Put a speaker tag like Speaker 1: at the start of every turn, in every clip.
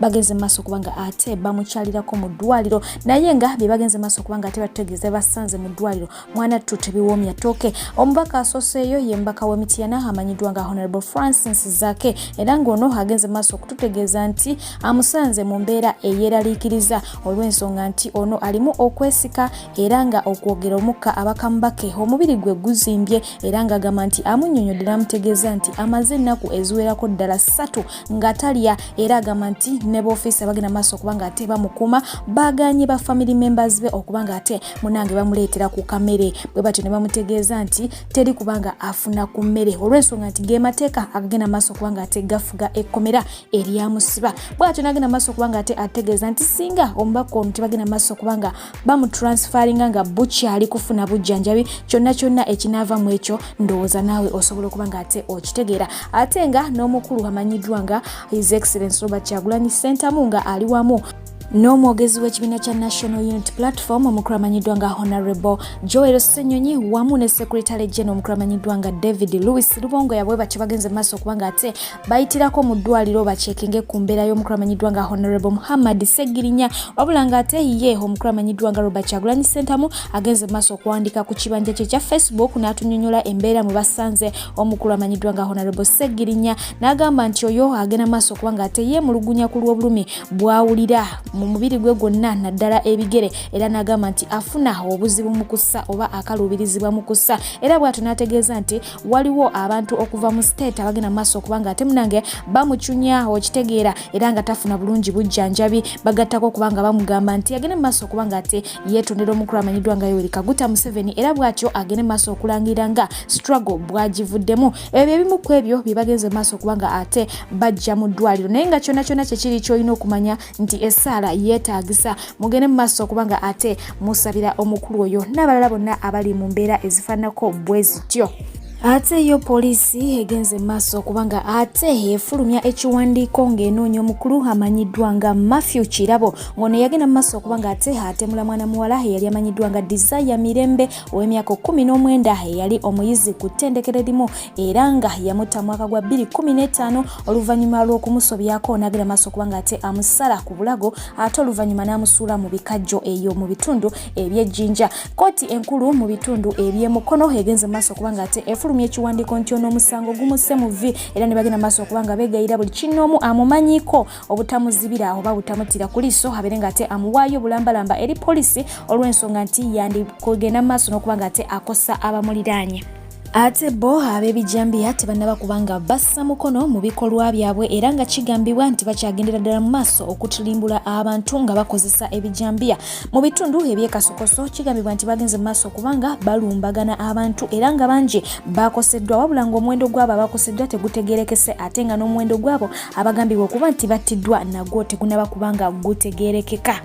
Speaker 1: bagenze maaso okuba nga ate bamukyalirako mu ddwaliro naye nga bye bagenze maaso okuba nga ate batutegeeza basanze mu ddwaliro mwana ttu tebiwoomya tooke omubaka asooseeyo ye mubaka w'emityana amanyiddwa nga honorable francis zake era ng'ono agenze maaso okututegeeza nti amusanze mu mbeera eyeeraliikiriza olw'ensonga nti ono alimu okwesika era nga okwogera omukka abakamubake omubiri gwe guzimbye era ng'agamba nti amunyonyodde n'amutegeeza nti amaze ennaku eziwerako ddala ssatu nga talya era agamba nti ne boofiisa bagenda maaso okuba nga ate bamukuma baganye ba family members be okuba nga ate munange bamuleetera ku kamere bwe batyo ne bamutegeeza nti teri kubanga afuna ku mmere olw'ensonga nti ge mateeka agagenda maaso okuba nga ate gafuga ekkomera eryamusiba bwatyo nagenda maaso okuba nga ate ategeeza nti singa omubaka ono tebagenda maaso okuba nga bamutransferinga nga bukyali kufuna bujjanjabi kyonna kyonna ekinaava mu ekyo ndowooza naawe osobola okuba nga ate okitegeera ate nga n'omukulu amanyiddwa nga his excellence robert kyagulanyi sentamu nga ali wamu n'omwogezi w'ekibiina kya national unit platform omukulamanyiddwa nga honorable joel senyonyi wamu ne secretary gen omukulamanyiddwa nga david louis lubongo yabwe batyo bagenze maaso okubanga ate bayitirako mu ddwaliro bakyekinge ku mbeera y'omukulu amanyiddwa nga honorable muhammad segirinya wabula nga ate ye omukulu amanyiddwa nga robert kyagulanyi sentamu agenze mu maaso okuwandiika ku kibanja kye kya facebook n'atunyonyola embeera mwe basanze omukulu amanyiddwa nga honorable segirinya n'agamba nti oyo agenda mu maaso okuba nga ate ye mulugunya ku lw'obulumi bwawulira mu mubiri gwe gwonna naddala ebigere era n'agamba nti afuna obuzibu mu kussa oba akaluubirizibwa mu kussa era bw'atyo n'ategeeza nti waliwo abantu okuva mu state abagenda mu maaso okubanga ate munange bamucunya okitegeera era nga tafuna bulungi bujjanjabi bagattako okubanga bamugamba nti agende mu maaso okubanga ate yeetondera omukulu amanyiddwa nga yoweri kaguta museveni era bwatyo agende mu maaso okulangira nga struggle bwagivuddemu ebyo ebimu ku ebyo bye bagenze mu maaso okubanga ate bajja mu ddwaliro naye nga kyona kyona kyekiri kyolina okumanya nti essaala yeetaagisa mugende mu maaso okuba nga ate musabira omukulu oyo n'abalala bonna abali mu mbeera ezifaananako bwe zityo ate yo poliisi egenze maaso okubanga ate efulumya ekiwandiiko ng'enoonya omukulu amanyiddwa nga mafew kirabo ng'ono yagenda mu maaso okubanga ate atemula mwana muwala eyali amanyiddwa nga desire mirembe ow'emyaka kumi n'omwenda eyali omuyizi ku ttendekero limu era nga yamutta mwaka gwa 2015 oluvannyuma lw'okumusobyako n'agera maaso kubanga ate amusala ku bulago ate oluvannyuma n'amusuula mu bikajjo eyo mu bitundu eby'ejjinja kooti enkulu mu bitundu eby'emukono egenze mu maaso kubanga ate efulumya ekiwandiiko nti ono omusango gumusse mu vvi era ne bagenda maaso kubanga beegayira buli kinnoomu amumanyiko obutamuzibira oba butamutira ku liiso abeere nga ate amuwaayo bulambalamba eri poliisi olw'ensonga nti yandikugenda mu maaso n'okuba nga ate akosa abamuliraanye Ate bo ab'ebijambiya tebannaba kubanga bassa mukono mu bikolwa byabwe era nga kigambibwa nti bakyagendera ddala mu maaso okutulimbula abantu nga bakozesa ebijambiya mu bitundu ebyekasokoso kigambibwa nti bagenze mu maaso kubanga balumbagana abantu era nga bangi bakoseddwa wabula ng'omuwendo gwabo abakoseddwa tegutegerekese ate nga n'omuwendo gwabo abagambibwa okuba nti battiddwa nagwo tegunaba kubanga gutegerekeka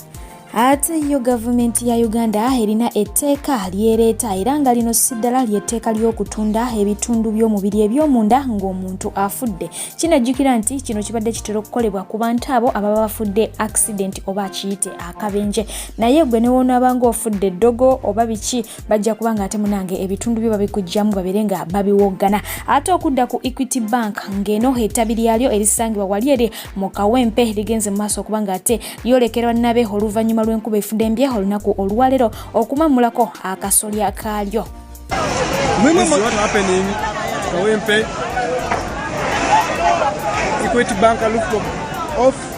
Speaker 1: ate yo gavumenti ya uganda erina etteeka lyereeta era nga lino si ddala ly'etteeka ly'okutunda ebitundu by'omubiri eby'omunda ng'omuntu afudde kinajjukira nti kino kibadde kitera okukolebwa ku bantu abo ababa bafudde accident oba akiyite akabenje naye gwe newoonaabanga ofudde eddogo oba biki bajja kuba nga ate munange ebitundu byo babikugyamu babere nga babiwoggana ate okudda ku equity bank ng'eno ettabi lyalyo erisangibwa wali eri mu kawempe ligenze mu maaso okuba ng'ate lyolekerwa nabe oluvannyuma lw'enkuba efudembye olunaku olwaleero okumammulako akasolya kaalyo
Speaker 2: Equity Bank rooftop off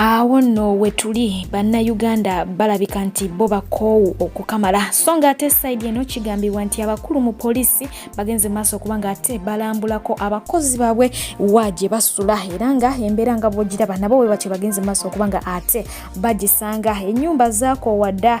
Speaker 1: awo nno wetuli bannayuganda balabika nti bo bakoowu okukamala so nga ate saidi eno kigambibwa nti abakulu mu poliisi bagenze maaso okuba nga ate balambulako abakozi baabwe wa gye basula era nga embeera nga bwogiraba nabo bwe batyo bagenze maaso okuba nga ate bagisanga ennyumba zaakoowa dda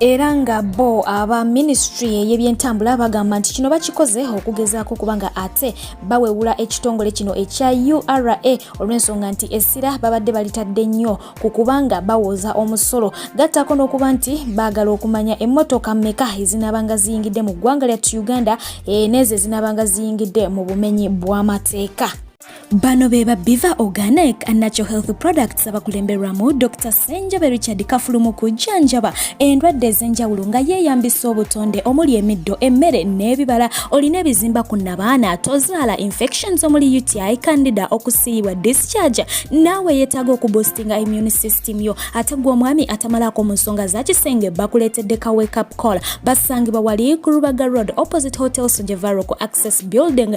Speaker 1: era nga bo aba ministry eyebyentambula bagamba nti kino bakikoze okugezaako okuba nga ate bawewula ekitongole kino ekya ura olw'ensonga nti essira babadde balitadde nnyo ku kubanga bawooza omusolo gattaako n'okuba nti baagala okumanya emmotoka meka ezinaabanga ziyingidde mu ggwanga lyattu uganda e, n'ezo ezinaabanga ziyingidde mu bumenyi bw'amateeka bano be ba biva organic and natural health products abakulemberwamu dr senjobe richard kafulu mu kujjanjaba endwadde ez'enjawulo nga yeeyambisa obutonde omuli emiddo emmere n'ebibala olina ebizimba ku nabaana tozaala infections omuli uti candida okusiiyibwa discharge naawe yeetaaga okuboostinga immune system yo ate gwe omwami atamalaako mu nsonga za kisenge bakuleetedde ka wake up call basangibwa wali ku rubaga road opposite hotel sojevaro ku access building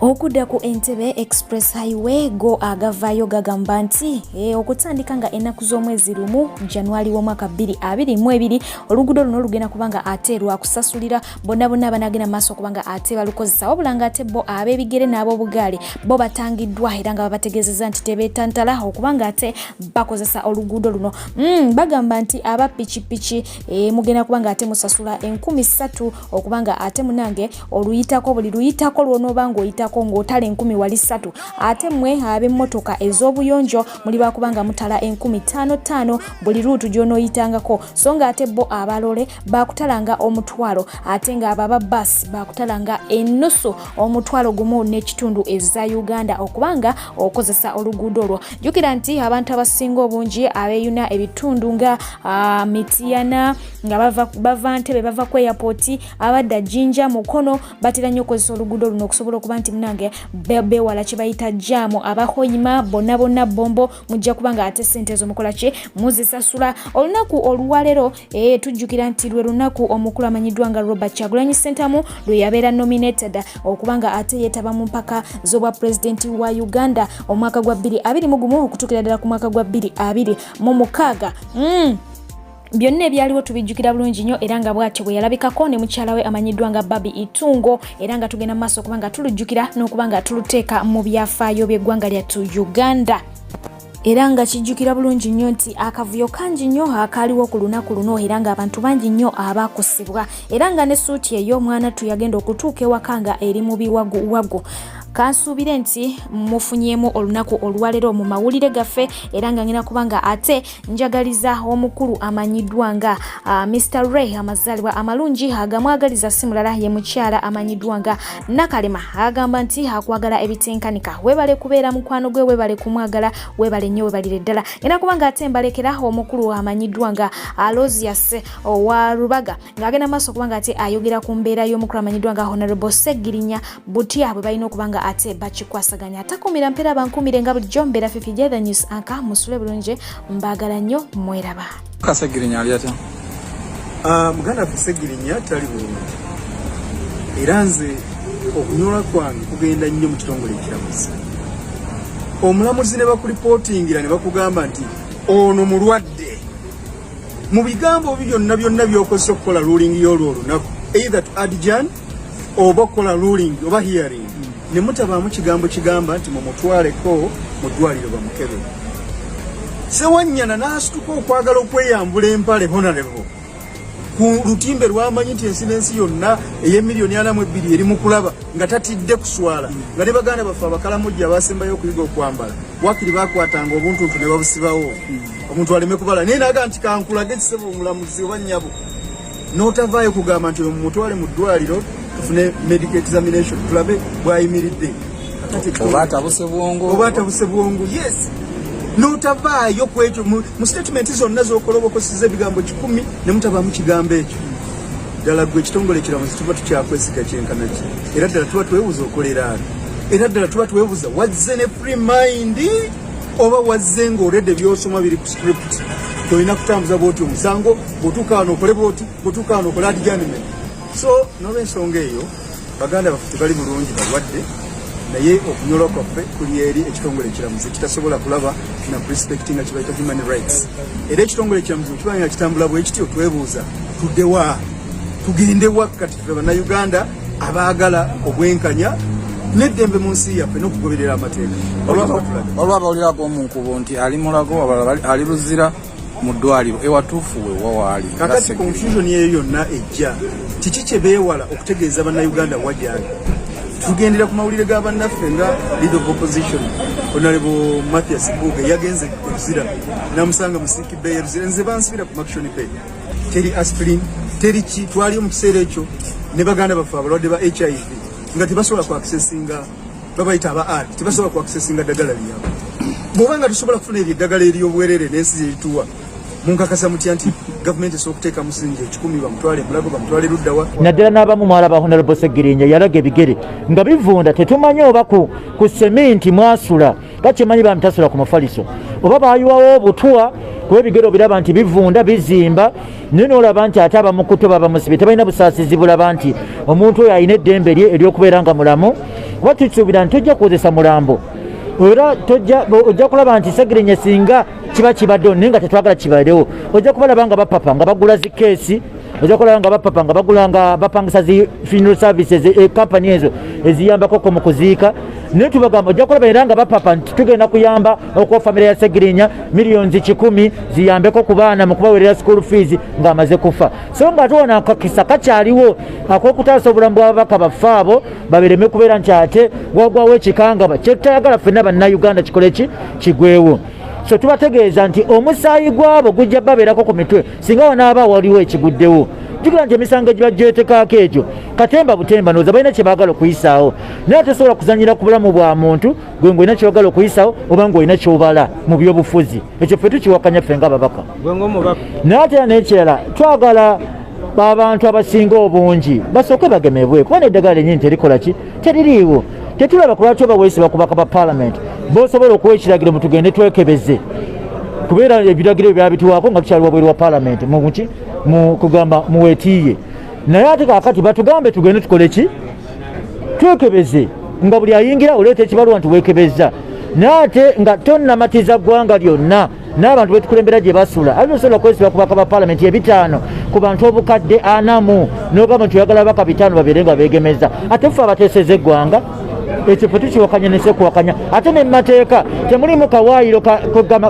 Speaker 1: okudda ku entebe express highway go agavaayo gagamba nti e, okutandika nga ennaku z'omwezi lumu januari w'omwaka 222 oluguudo luno lugenda kubanga ate lwakusasulira bonna bonna abanagenda maaso okubanga ate balukozesa wabula nga ate bo ab'ebigere n'ab'obugaale bo batangiddwa era nga babategeezeza nti tebeetantala okubanga ate bakozesa oluguudo luno mm, bagamba nti aba pikipiki e, mugenda kubanga ate musasula enkumi ssatu okubanga ate munange oluyitako buli luyitako lwonoba ngaoyitako ngaotala enkumi wali satu ate mwe abemmotoka ez'obuyonjo muli bakubanga mutala enkumi tano tano buli luutu gyonoyitangako so nga ate bo abalole bakutalanga omutwalo ate nga ababa bas bakutalanga enusu omutwalo gumu n'ekitundu eza uganda okubanga okozesa oluguudo olwo jukira nti abantu abasinga obungi abeyuna ebitundu nga ah, mitiyana nga bava, bava ntebe bava ku airport abadda jinja mukono batera nnyo okukozesa oluguudo luno okusobola okuba nti munange bewala kyebayita jaamu abahoyima bonna bonna bombo mujja kuba nga ate sente ezo mukola ki muzisasula olunaku oluwalero e, tujjukira nti lwe lunaku omukulu amanyiddwa nga robert kyagulanyi sentamu lwe yabeera nominated okuba nga ate yeetaba mu mpaka z'obwa pulezidenti wa uganda omwaka gwa 2 21 okutuukira ddala ku mwaka gwa 2 2 mu mukaaga mm. byonna ebyaliwo tubijjukira bulungi nnyo era nga bwatyo bwe yalabikako ne mukyala we amanyiddwa nga babi itungo era nga tugenda maaso okuba nga tulujjukira n'okuba nga tuluteeka mu byafaayo by'eggwanga lyattu uganda era nga kijjukira bulungi nnyo nti akavuyo kangi nnyo akaaliwo ku lunaku luno era ng'abantu bangi nnyo abaakusibwa era nga ne suuti eyo omwana tu yagenda okutuuka ewaka nga eri mu biwaguwagu kansuubire nti mufunyemu olunaku olwaleero mu mawulire gaffe era nga ngina kubanga ate njagaliza omukulu amanyiddwa nga uh, Mr Ray amazaalibwa amalungi agamwagaliza si mulala ye mukyala amanyiddwa nga Nakalema agamba nti akwagala ebitenkanika webale kubeera mukwano gwe webale kumwagala webale nnyo webalire ddala era kubanga ate mbalekera omukulu amanyiddwa nga Alosius uh, owa Rubaga ng'agenda maaso kubanga ate ayogera ku mbeera y'omukulu amanyiddwa nga Honorable Segirinya butya bwe balina okuba nga ate bakikwasaganya atakumira mpeera bankumire nga bulijjo mbeera fifi jethe news anka musule bulungi
Speaker 3: mbaagala
Speaker 1: nnyo mweraba kasegirinya ali atya ah,
Speaker 3: muganda ffe segirinya tali bulungi era nze okunyola kwange kugenda nnyo mu kitongole ekiramuzi omulamuzi ne bakulipootingira ne bakugamba nti ono mulwadde mu bigambo byonna byonna byokozesa okukola lulingi y'olwo olunaku either to adjan oba okukola ruling oba hearing ne mutabaamu kigambo kigamba nti mumutwaleko mu ddwaliro bamukebe sewanyana n'asituka okwagala okweyambula empale honarebo ku lutimbe lwamanyi nti ensi n'ensi yonna ey'emiliyoni ana mu ebbiri eri mu kulaba nga tatidde kuswala nga ne baganda baffe abakalamujja abasembayo okuyiga okwambala wakiri bakwatanga obuntuntu ne babusibawo omuntu aleme kubala naye naga nti kankulage kisebo omulamuzi oba nnyabo n'otavaayo kugamba nti mumutwale mu ddwaliro tufune medical examination tulabe bwayimiridde oba
Speaker 4: atabuse bwongo oba atabuse bwongo yes
Speaker 3: n'otavaayo ku ekyo mu statement zonna zokolobokosiza ebigambo kikumi ne mutabaamu kigambo ekyo ddala gwe ekitongole ekiramuzi tuba tukyakwesiga kyenkana ki era ddala tuba twebuza okoleraano era ddala tuba twebuza wazze ne free mind oba wazze ng'olede byosoma biri ku script tolina kutambuza bwoti omusango bwotukaana okole bwoti bwotukaana okole adiganime so nolwensonga eyo baganda baffe tebali bulungi balwadde naye okunyolwa kwaffe kuli eri ekitongole ekiramuzi kitasobola kulaba na respect nga kibaita human rights era ekitongole ekiramuzi kiba nga kitambula bwekityo twebuuza tudewa tugendewa kati fe banauganda abaagala obwenkanya neddembe mu nsi yaffe n'okugoberera amateeka
Speaker 4: olwabawulirako omunkubo nti ali mulago ali luzira mu ddwaliro ewatuufu we wawaali kakati confusion
Speaker 3: eyo yonna ejja kiki kye beewala okutegeeza bannayuganda wagyali tugendera ku mawulire ga bannaffe nga lead of opposition onalebo mathias buuge yagenze oluzira namusanga musiki bay oluzira nze bansibira ku maction bay teri aspirin teri ki twaliyo mu kiseera ekyo ne baganda baffe abalwadde ba hiv nga tebasobola ku accessinga babayita aba art tebasobola ku accessinga dagala liyabo bwoba nga tusobola kufuna ebyo eddagala eryobwerere n'ensi gyerituwa munkakasa mutya nti gavumenti esobola okuteeka musingi ekikumi bamutwale mulago bamutwale luddawa naddala n'abamu mwala ba
Speaker 5: honalabo segirinja yalaga ebigere nga bivunda tetumanyi oba ku seminti mwasula bakyemanyi bamitasula ku mufaliso oba bayiwawo obutwa kuba ebigero biraba nti bivunda bizimba naye nolaba nti ate abamukuto babamusibe tebalina busaasizi bulaba nti omuntu oyo alina eddembe lye eryokubeera nga mulamu kuba tukisuubira nti tojja kukozesa mulambo era ojja kulaba nti segirinya singa kiba kibaddewo naye nga tetwagala kibadewo ojja kubalaba nga bapapa nga bagula zikeesi oja okulaba nga bapapa nga bagula nga bapangisa zi funeral services ekampani eh, ezo eziyambakoko mu kuziika naye tubagamba ojja kulaba era nga bapapa nti tugenda kuyamba okuwa famire ya segirinya miliyoni kikumi ziyambeko ku baana mu kubawerera school fees ng'amaze kufa so nga ate wona akakisa kakyaliwo akokutaasa obulamu bwababaka baffe abo babireme kubeera nti ate wagwawo ekikangaba kyetutayagala ffenna bannayuganda kikole ki kigwewo so tubategeeza nti omusaayi gwabo gujja babeerako ku mitwe singa wanaaba waliwo ekiguddewo jukira nti emisango egiba gyetekaako egyo katemba butemba noza balina kyebagala okuyisaawo naye tosobola kuzanyira ku bulamu bwa muntu gwe ngaolina kyebagala okuyisaawo oba ngaolina kyobala mu byobufuzi ekyo fe tukiwakanya ffe nga babaka naye ate era nekirala twagala abantu abasinga obungi basooke bagemebwe kuba neddagala lenyini terikola ki teririiwo tetulaba ku lwaki oba weesiba kubaka ba palamenti bosobola okuwa ekiragiro mu tugende twekebeze kubeera ebiragiro byabitiwaako nga tukyali wabweru wa palamenti muki kugamba muwetiiye naye ate kakati batugambe tugende tukole ki twekebeze nga buli ayingira oleeta ekibaluwa nti weekebezza naye ate nga tonnamatiza ggwanga lyonna n'abantu betukulembera gye basula alina osobola okwesiba ku bakaba palamenti ebitaano ku bantu obukadde anamu n'ogamba nti oyagala baka bitaano babeere nga beegemeza ate ffe abateeseza eggwanga ekifo tukiwakanya nesekuwakanya ate ne mumateeka temulimu kawaayiro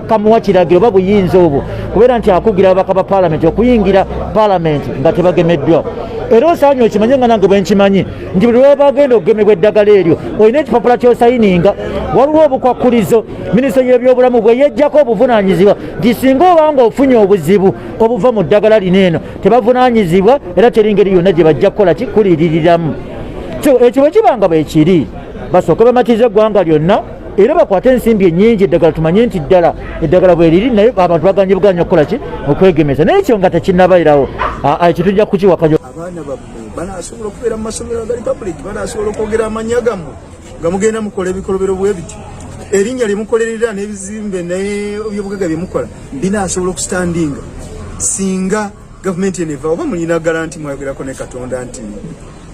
Speaker 5: kamuwa kiragiro oba buyinza obwo kubeera nti akugira ababaka ba palamenti okuyingira palamenti nga tebagemeddwa era osaanye okimanye nga nange bwenkimanyi nti buli lwebagenda okugemebwa eddagala eryo olina ekipapula kyosayininga waliwo obukwakkulizo minisitule y'ebyobulamu bwe yejjako obuvunaanyizibwa nti singa oba nga ofunye obuzibu obuva mu ddagala lino eno tebavunaanyizibwa era teri ngeri yonna gye bajja kukola kikuliririramu so ekyo bwe kiba nga bwe kiri basooke bamatiza eggwanga lyonna era bakwate ensimbi enyingi eddagala tumanye nti ddala eddagala bweriri naye abantu baganye buganya okukola ki okwegemeza naye ekyo nga tekinabairawo ekyo tujja kukiwakayo abaana bammwe
Speaker 3: banasobola okubeera mu masomero agali public banasobola okwogera amanya gammwe nga mugenda mukola ebikolobero bwe bityo erinnya lye mukolerera n'ebizimbe n'ebyobugaga bye mukola binaasobola okusitandinga singa gavumenti eno eva oba mulina garanti mwayogerako ne katonda nti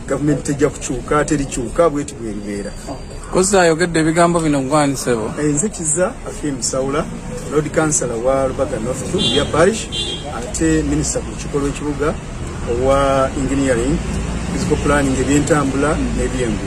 Speaker 3: gavumenti tejja kukyuka terikyuka bweti bweribeera kozi ayogedde
Speaker 4: ebigambo bino gwanisebo eh, nze kiza
Speaker 3: afim saula lord councilor wa lubaga north two ya parish ate minisita ku lukiiko lw'ekibuga owa engineering physical planning ebyentambula n'ebyengu